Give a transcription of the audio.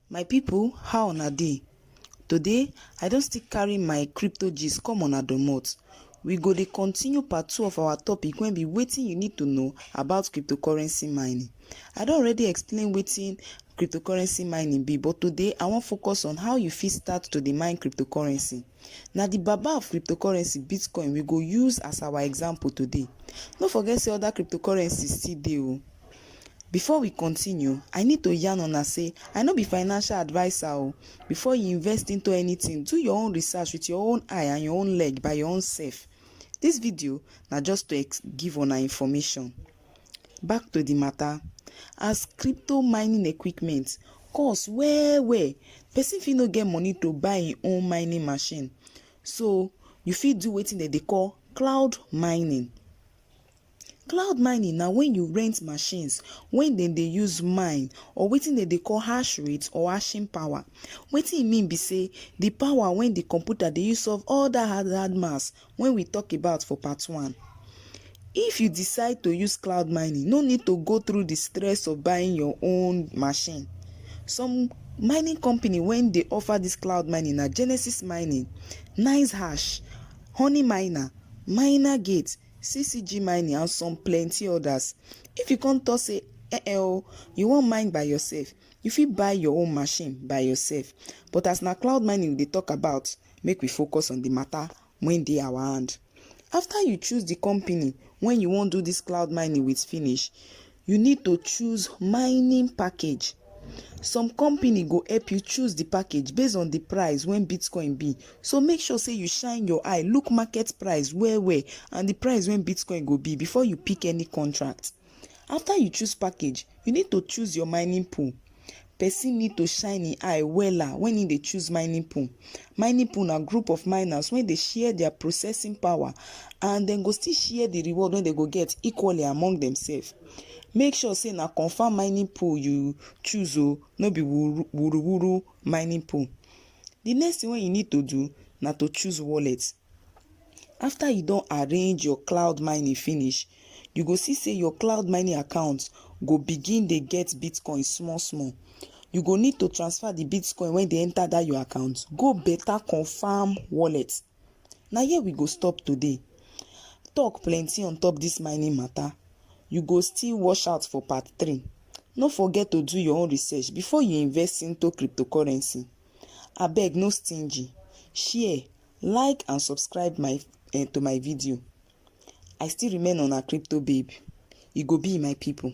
My people how una dey? Today I don still carry my crypto gist come una domot. We go dey continue part two of our topic wey be wetin you need to know about cryptocurrency mining. I don already explain wetin cryptocurrency mining be but today I wan focus on how you fit start to dey mine cryptocurrency. Na the baba of cryptocurrency bitcoin we go use as our example today. No forget sey other cryptocurrency still dey o. Before we continue, I need to yarn una say I no be financial adviser o. Before you invest into anything, do your own research with your own eye and your own leg by your own self. This video na just to ex give una information. Back to the matter, as crypto mining equipment cost well well, person fit no get money to buy im own mining machine, so you fit do wetin dem dey call cloud mining. Cloud mining na when you rent machines wey dem dey use mine or wetin dem dey call hash rate or hashing power. Wetin e mean be say the power wey the computer dey use solve all that hard hard maths wey we talk about for part one. If you decide to use cloud mining, no need to go through the stress of buying your own machine. Some mining company wey dey offer this cloud mining na Genesis Mining, Nice Hash, Honey Miner, Miner Gate, CCG mining and some plenty others. If you come talk say eh eh oh, you wan mine by yourself, you fit buy your own machine by yourself. But as na cloud mining we dey talk about, make we focus on the matter wey dey our hand. After you choose the company wey you wan do this cloud mining with finish, you need to choose mining package some company go help you choose the package based on the price when bitcoin be so make sure say you shine your eye look market price well well and the price when bitcoin go be before you pick any contract after you choose package you need to choose your mining pool Person need to shine im eye wella when im dey choose mining pool. Mining pool na group of miners wey dey share their processing power and dem go still share the reward wey dem go get equally among themselves. Make sure say na confirm mining pool you choose o, no be wuru wuru mining pool. The next thing wey you need to do na to choose wallet. After you don arrange your cloud mining finish, you go see say your cloud mining account go begin dey get bitcoin small small you go need to transfer the bitcoin when they enter that your account go better confirm wallet Now here we go stop today talk plenty on top this mining matter you go still wash out for part three no forget to do your own research before you invest into cryptocurrency abeg no stingy share like and subscribe my uh, to my video I still remain una crypto babe, you go be my people.